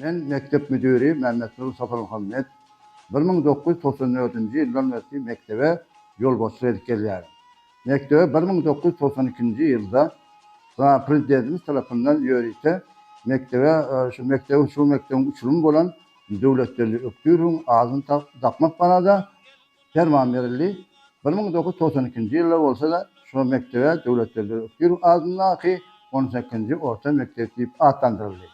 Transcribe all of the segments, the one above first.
Men mekdep müdiri Mämmetnur Saparmuhammet. Bir müň dokuz ýüz togsan dördünji ýyldan bäri mekdebe ýolbaşçylyk edip gelýärin. Mekdebe bir müň dokuz ýüz togsan ikinji ýylda Prezidentimiz tarapyndan ýörite mekdebe şu mekdebiň şu mekdebiň uçurymy bolan Döwletgeldi Ökdürowyň adyny dakmak barada perman berildi. Bir müň dokuz ýüz togsan ikinji ýylda bolsa-da, şol mekdebe Döwletgeldi Ökdürow adyndaky on sekizinji orta mekdep diýip atlandyryldy.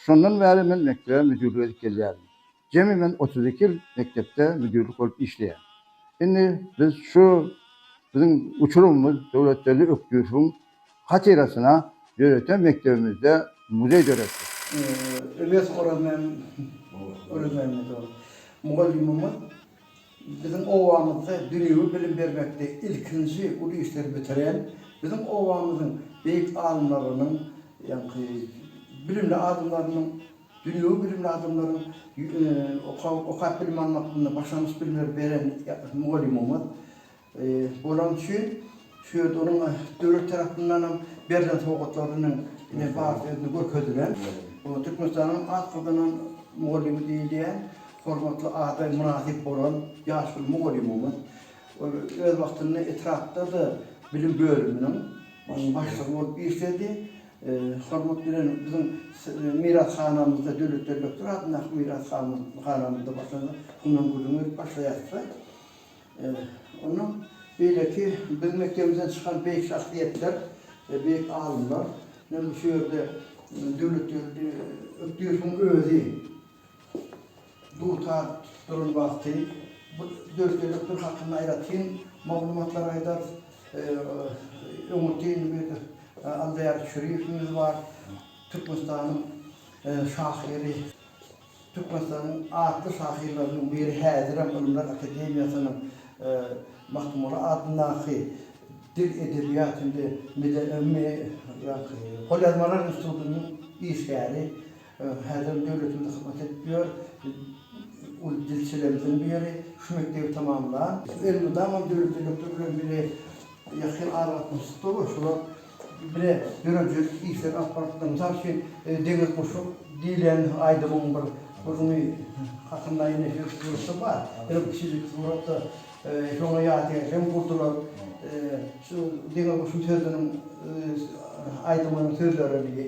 Şondan bäri men mekdebe müdirlik edip gelýärin. Jemi men otuz iki ýyl mekdepde müdirlik bolup işleýän. Indi biz şu biziň uçurymymyz Döwletgeldi Ökdürowyň hatyrasyna döreten mekdebimizde muzeý döretdik. Öwez Orazmämmedow mugallymymyz biziň obamyzda dünýewi bilim bermekde ilkinji uly işleri bitiren, biziň obamyzyň beýik alymlarynyň, ýaňky bilimli adamlarynyň, dünýewi bilimli adamlaryň okap bilim almaklygyna başlangyç bilimleri beren mugallymymyz. Bolany üçin şu ýerde onuň döwlet tarapyndanam berlen sowgatlarynyň ine barysy özünde görkezilen. Oňa Türkmenistanyň at gazanan mugallymy diýilýän hormatly ada mynasyp bolan ýaşuly mugallymymyz. Ol öz wagtynda etrapda-da bilim bölüminiň başlygy bolup işledi. Hormat bilen biziň mirashanamyzda, Döwlet Beglekdow adyndaky mirashanamyzda başlangyç Hunan gülüň berip başlaýarys-da. Onuň beýleki biziň mekdebimizden çykan beýik şahsyýetler, beýik alymlar, indi şu ýerde Döwletgeldi Ökdüýewiň özi dutar duran wagty bu Döwletgeldi Ökdüýew hakynda aýratyn maglumatlary aýdarys. Öňürti Aldýar Çüriýewiňiz bar, Türkmenistanyň şahyry. Türkmenistanyň atly şahyrlarynyň biri häzirem Ylymlar akademiýasynyň Magtymguly adyndaky Dil, edebiýat hem-de golýazmalar institutynyň işgäri. Häzirem döwletimize hyzmat edip ýör. Uly dilçilerimiziň biri. Şu mekdebi tamamlan. Elmydama döwlet elektrik bilen bile ýakyn aragatnaşykda we şular bile döredilen işleri alyp barypdyr. Mysal üçin, Deňiz guşy diýlen aýdymyň bir gürrüňi hakynda ýene-de suratda bar. Ýene bir kiçijik suratda şoňa ýadygär hem gurdular. Şu Deňiz guşy sözüniň aýdymynyň sözlerini.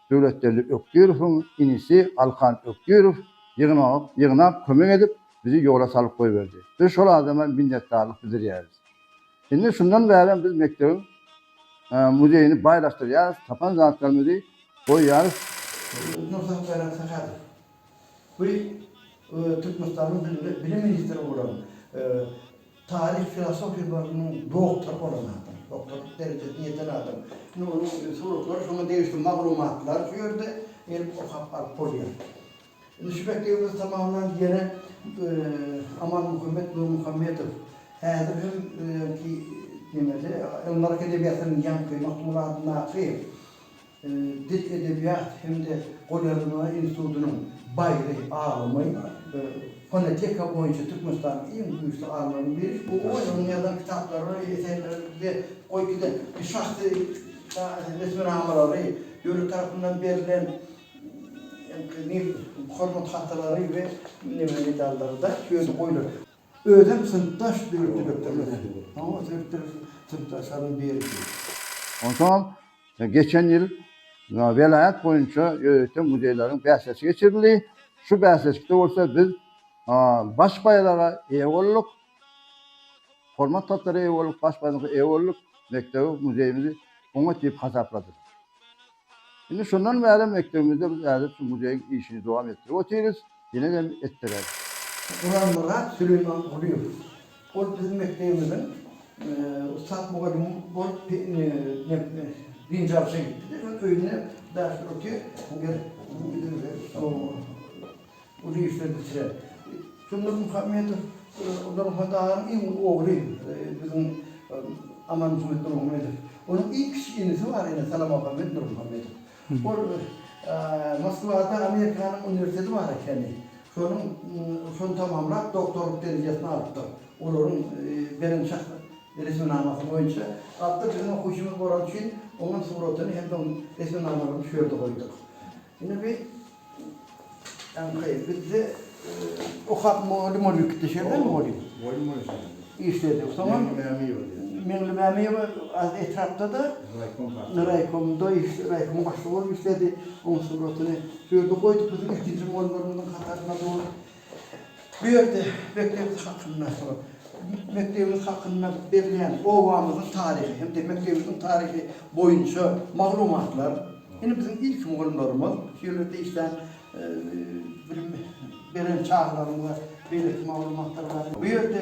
Döwletgeldi Ökdirowyň inisi Alkan Ökdirow ýygnak ýygnap kömek edip bizi ýola salyp goýberdi. Biz şol adama minnetdarlyk bildirýäris. Indi şundan bärem biz mekdebiň muzeýini baýlaşdyrýarys, tapan zatlarymyzy goýýarys. Nursultan Sahadow bu Türkmenistanyň bilim ministri bolan Taryh filosofiýa bölüminiň doktory bolan adam, doktorlyk derejesine ýeten adam. Indi onuň suratlary şoňa degişli maglumatlar şu ýerde gelip okap alyp bolýar. Indi şu mekdebimizi tamamlan ýere Amanmuhammet Nurmuhammedow häzir hem ki nemede Ylymlar akademiýasynyň ýaňky Magtymguly adyndaky Dil, edebiýat hem-de golýazma institutynyň baýry, alymy, fonoteka boýunça Türkmenistanyň iň güýçli alymlarynyň biri. Bu onuň ýazan kitaplary, eserleri bize goý giden şahsy resminamalary, döwlet tarapyndan berlen Hormat hatalary we medallary-da ýöne goýlar. Özem synpdaş döwlet direktory bilen. Oňa sebitde synpdaşlaryň birisi. Onsoňam Geçen ýyl welaýat boýunça ýörite muzeýleriň bäsleşigi geçirildi. Şu bäsleşikde bolsa biz baş baýraga eýe bolduk. Hormat tagtara eýe bolduk, baş baýraga eýe bolduk. Mekdebi, muzeýimizi oňat diýip hasapladylar. Indi şondan bäri mekdebimizde biz ädep şu muzeýiň işini dowam etdirip otyrys. Dileg hem etdiler. Guranmyrat Süleýmangulyýew. Ol biziň mekdebimiziň ussat mugallymy bolup dynjalşa gitdi-de, soň öýünde ders otyr. Ger uly işler bitirer. Jumhur Muhammedow, Gully Hodaýewiň iň uly ogly biziň Amanmuhammet Nurmuhamedow. Onuň iň kiçi inisi bar ene, Salamamuhammet Nurmuhammedow. Ol Moskwada Amerikanyň uniwersiteti bar ekeni. Şonuň şony tamamlap, doktorlyk derejesini alypdyr. Olaryň beren resminamasy boýunça. Gaty biziň okuwçymyz bolany üçin oňam suratyny hem-de onuň resminamalaryny şu ýerde goýduk. Indi bi Ýaňky bizde okap moly moly gitdi şerden moly. Moly moly şerden. Işledi. Soňam Meňli Mämiýewa diýen. Meňli Mämiýewa az etrapda-da raýkom başlygy. Raýkomda işledi, raýkomyň başlygy bolup işledi. Onuň suratyny şu ýerde goýduk, biziň ilkinji mollarymyzyň hatarynda dur. Bu ýerde mekdebimiz hakynda, mekdebimiz hakynda berilýän obamyzyň taryhy hem-de mekdebimiziň taryhy boýunça maglumatlar, ine, biziň ilki mugallymlarymyz, şu ýerlerde işlän bilim beren çagalarymyza beýleki maglumatlar bar. Bu ýerde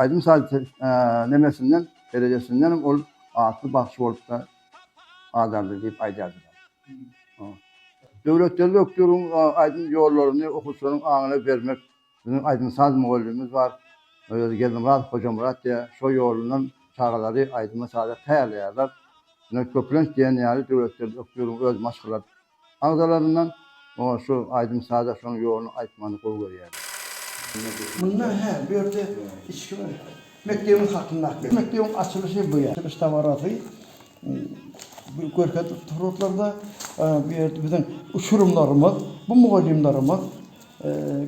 Aýdym saz te nemesinden, derejesindenem ol atly bagşy bolup-da adaldy diýip aýdýardylar. O. Döwletgeldi Ökdüriň aýdym ýollaryny okuwçylaryň aňyna bermek biziň aýdym-saz mugallymymyz bar. Özi Geldimyradow Hojamyrat diýýär. Şo ýolundan çagalary aýdyma-saza taýýarlaýarlar. Ine, köplenç diýen ýaly Döwletgeldi Ökdüriň öz maşgala Agzalaryndan oňa şu aýdym-saza şoň ýoluny aýtmagyny gowy görýärler. Munda hä, bu ýerde içki bir mekdebiň hakyndaky. Mekdebiň açylyşy bu ýerde. Açylyş dabarasy görkezilip dur otlarda. Bu ýerde biziň uçurymlarymyz, bu mugallymlarymyz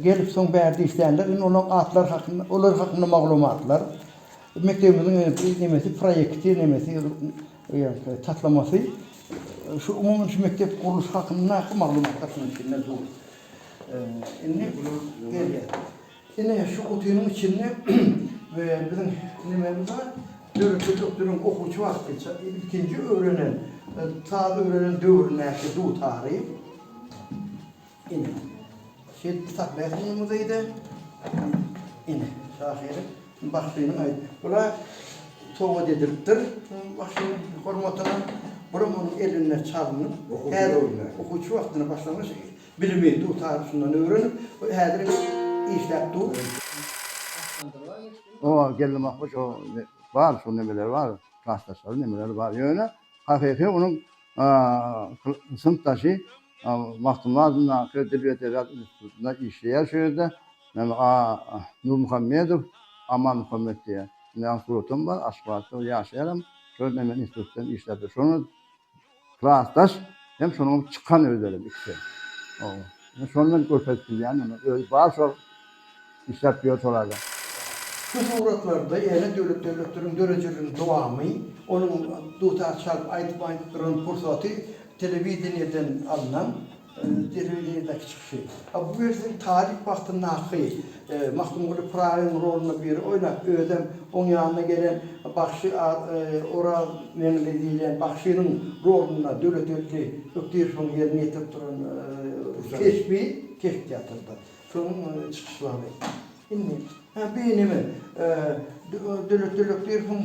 gelip soň bärde işlänler. Indi olaryň atlary hakynda, olar hakynda maglumatlar, mekdebimiziň nemesi, proýekti, nemesi. Eýýämki taslamasy şu umumy şu mekdep gurluşy hakyndaky maglumatlar şunuň içinde dur. Indi gelýär. Ine şu gutynyň içinde we biziň nememiz bar. Döretde doktoryň okuwçy wagty ilkinji öwrenen, saz öwrenen döwründäki dutary. Ine, şeýdip saklaýarsyň muny muzeýde. Ine, şahyryň, bagşynyň aýt. Bular sowgat edilipdir bagşynyň hormatyna. Bulam onuň elinde çalynyp, häzir okuwçy wagtyna başlangyç bilimi, dutagy şundan öwrenip, häzir işläp dur. O geldi mah, hoş o bar şo nemeler bar, klasdaşlary nemeleri bar. Ýöne hakyky onuň synpdaşy Magtymguly adyndaky dil we edebiýat institutynda işleýär şu ýerde. Nurmuhammedow Amanmuhammet diýýär. Indi aň suratam bar, Aşgabatda ýaşaýaram. Şol bilen men institutdan işläpdir. Şonda klasdaş hem şonuňam çykan özlerem ikisem. Şondan görkezip bilýän, özi bar şol. Işläp ýör şolarda. Bu suratlarda ýene Döwlet döwletleriň dörejiligiň dowamy, onuň dutar çalyp aýdyp aýdyp duran pursaty telewideniýeden alnan telewideniýedäki çykyşy. A bu welin talyp wagtyndaky Magtymguly Pyragyň rolunda biri oýnap özem oň ýanyna gelen bagşy Orazmeňli diýlen bagşynyň rolunda Döwletgeldi Ökdirowyň ýerine ýetirip duran keşbi keşp teatrda. Soň indi çykyş wagty. Indi. Hä bi neme Dölet Dölet diýersiň.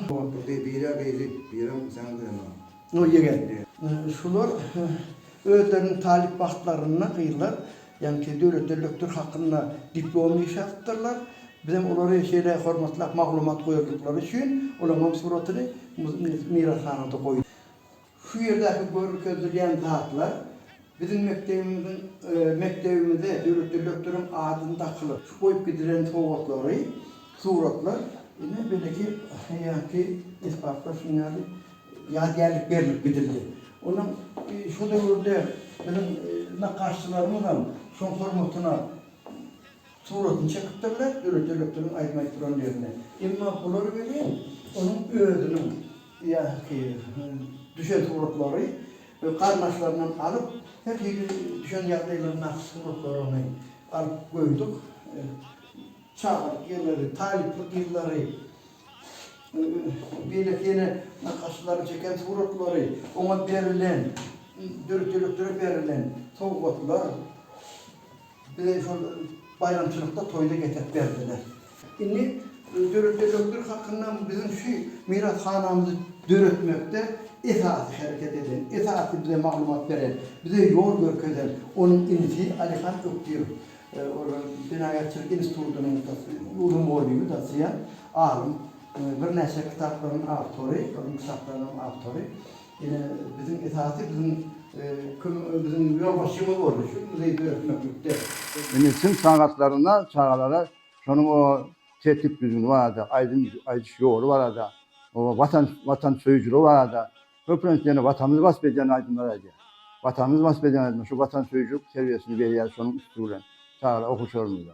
Bi bira gyzy biram sen göremok. Noý ýegen. Şular özleriniň talyp wagtlarynda gyzlar ýaňky Dölet Döletdir hakynda diplom iş ýazypdyrlar. Bizem olary şeýle hormatlap maglumat goýandyklary üçin olaňam suratyny mirashanada goýduk. Şu ýerdäki görkezilýän zatlar biziň mekdebimiziň mekdebimize döwlet direktoryň adyny dakylyp, şu goýup gidilen sowgatlary, suratlar, ine beýleki hälki esbaplar şunuň ýaly ýadygärlik berilip gidildi. Onuň şu döwürde biziň nakgaşçylarymyzam şoň hormatyna. Suratyny çekipdirler, döwlet elektrigiň aýdym-aýt duran ýerinde. Emma bular welin onuň özüniň ýa ki düşen suratlary we garyndaşlaryndan alyp, her hili düşen ýagdaýlaryň nagt suratlaryny alyp goýduk. Çagalyk ýylary, talyplyk ýyllary, beýleki ýene nakgaşlaryň çeken suratlary, oňa berilen, döwlet elektrigi berilen sowgatlar. Bize şol baýramçylykda, toýda getirip berdiler. Indi döretýän hökdir hakynda biziň şu mirashanamyzy döretmekde esasy hereket eden, esasy bize maglumat beren, bize ýol görkezen onuň inisi Alyhan Ökdirow, ol Jenaýatçylyk institutynyň uly mugallymy, dosýent, alym, birnäçe kitaplaryň awtory, onuň kitaplarynyň awtory. Ýene biziň esasy biziň kim biziň ýolbaşçymyz boldy şu muzeý döretmeklikde. Indi syn sagatlarynda çagalara şonuň o tertip düzgüni barada, aýdym aýdyş ýoly barada, o watan watan söýüjiligi barada, köplenç ýene watanymyzy wasp edýän aýdymlar aýdýar. Watanymyzy wasp edýän aýdymlar, şu watan söýüjilik terbiýesini berýär şonuň üsti bilen çagalar okuwçylarymyza.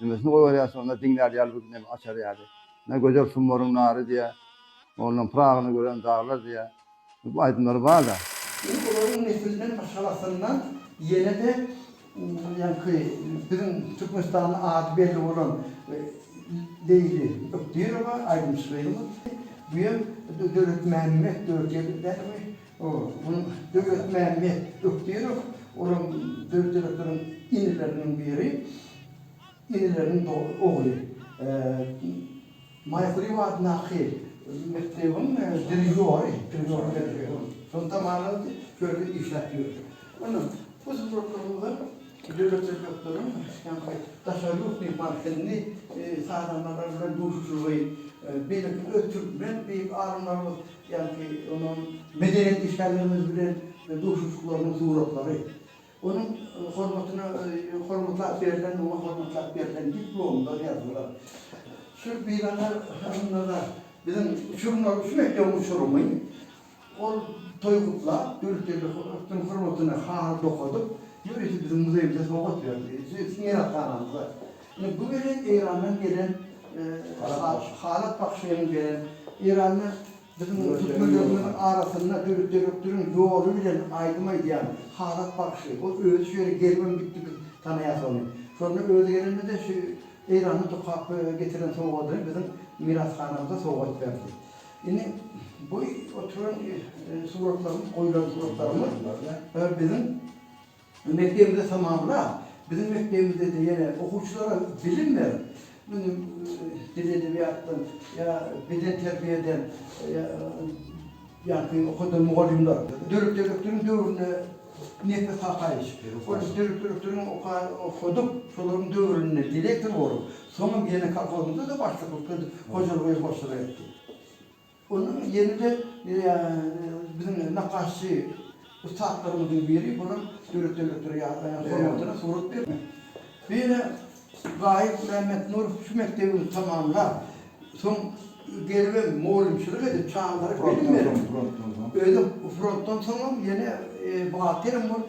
Nemesini goýberýärsiň onda diňlär ýaly bir neme açar ýaly. Ine Gözel summaryň nary diýýär. Ondan Pyragyny gören daglar diýýär. Bu aýdymlary bar-da. Indi olaryň neslinden aşagasyndan ýene-de ýaňky biziň Türkmenistanda ady belli bolan Leýli Ökdirowa aýdymçy gyzymyz. Bu hem Döwletmämmet Döwletgeldi dälmi? Ogulyň Döwletmämmet Ökdirow olam döwletlirektiriň inileriniň biri. Inileriniň ogly. Maýkuliýew adyndaky mekdebiň dirižýory. Şony tamamlady, şeýle işläp ýördi. Ondan bu suratlarymyzda döwletli rektiriň daşary ýurt myhman hilini sazandalar bilen duşuşygy, beýleki öz türkmen beýik alymlarymyz Ýagny onuň medeniýet işgärlerimiz bilen duşuşyklarynyň suratlary, onuň hormatyna hormatlap berlen, oňa hormatlap berlen diplomlar, ýazgylar. Şu bizatar adamlara biziň uçurymlar, şu mekdebiň uçurymy ol toý gutlap, döwletgeldi atlaryň hormatyna haly dokadyp, ýörite biziň muzeýimize sowgat berdi, şu meýrashanamyza. Ine bu welin Eýrandan gelen Halap Bahşynyň beren Eýranda biziň türkmenlerimiziň arasynda Döwlet Törekdiriň ýoly bilen aýdym aýdýan Halap Bahşy. Ol özi şu ýere gelibem gitdi biz tanaýas ony. Şonda özi gelende-de şu Eýranly tokap getiren sowgadyny biziň mirashanamyza sowgat berdi. Indi bu oturan suratlarymyz goýlan suratlarymyz biziň Bu mekdebi-de tamamlap, biziň mekdebimizde-de ýene okuwçylara bilim berip, muny dil-edebiýatdan ýa bedenterbiýeden ýa ýaňky okadan mugallymlar. Döwlet direktoryň döwründe Nepes Hakaýewiç, ol döwlet direktoryň okadyp, şolaryň döwründe direktor bolup, soňam ýene kolhozymyzda-da başlyk edip geldi, hojalyga hem başlyk etdi. Onda ýene-de biziň nakgaşçy ussatlarymyzyň biri bolan Döwlet döwletleri hormatyna surat bermek. Bu ýene Gaýyp Mämmetnurow şu mekdebimizi tamamlap, soň gelibem mugallymçylyk edip, çagalara bilim berip, özem frontdan soňam ýene buhagterem bolup,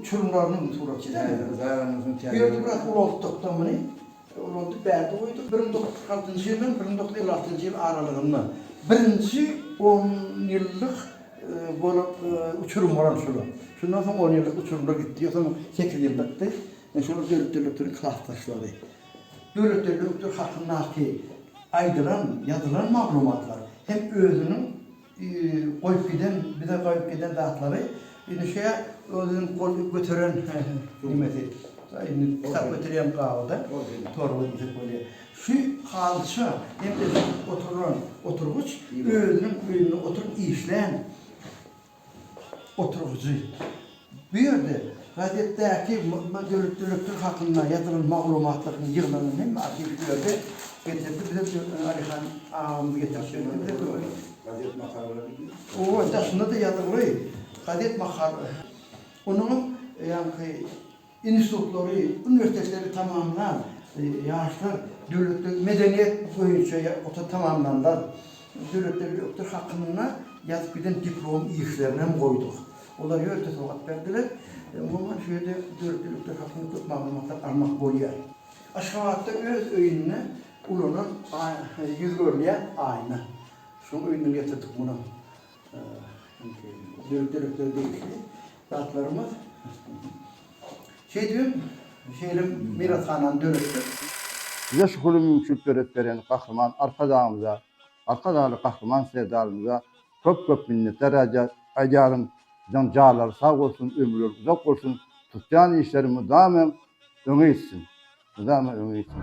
uçurymlaryny bu surat çekýärler. Bu ýerde biraz ulaltdyk-da muny. Ulaldyp bärde goýduk. Bir müň dokuz ýüz kyrk altynjy ýyl bilen bir müň dokuz ýüz elli altynjy ýyl aralygynda birinji on ýyllyk bolan uçurym bolan şol. Şundan soň on ýyllyk uçurymlar gitdi. Ýa soň sekiz ýyllykdy. Ine şolar Döwlet derlekleriň klas daşlary. Döwlet derlekdir hakyndaky aýdylan, ýazylan maglumatlar hem özüniň Goýup giden bize goýup giden zatlary indi şeýe özüniň gol göteren nimesi indi kitap göterýän gabyda torba diýsek bolýa şu halça hem de oturan oturgyç özüniň öýünde oturyp işlän oturgyjy. Bu ýerde gazetdäki Mydma döretdirilipdir hakynda ýazylan maglumatlaryň ýygnanyny hem arhiw bu ýerde getirdi bize Türkmen Alyhan agamyz getirip berdi bize dogry. Gazet makalalaryny diýip. Owa daşynda-da ýazylgy gazet makal. Onuňam ýaňky Institutlary, uniwersitetleri tamamlan ýaşlar döwletde medeniýet boýunça okuw tamamlanlar döwletde ýokdur hakynda ýazyp giden diplom işlerini hem goýduk. Olar ýörite sowgat berdiler. Umuman şu ýerde döwletde ýokdur hakynda köp maglumatlar almak bolýar. Aşgabatda öz öýünde ulanan ýüz görülýän aýna. Şoň öýünden getirdik muny. Dörek-dörekler degişli zatlarymyz. Şeýdibem, şeýle mirashanany döretdik. Bize şu uly mümkinçilik döredip beren Gahryman Arkadagymyza, Arkadagly Gahryman Serdarymyza köp-köp minnetdar aýdýaryn. Biziň janlary sag bolsun, ömürleri uzak bolsun, tutýan işleri mydama öňe gitsin! Mydama öňe gitsin!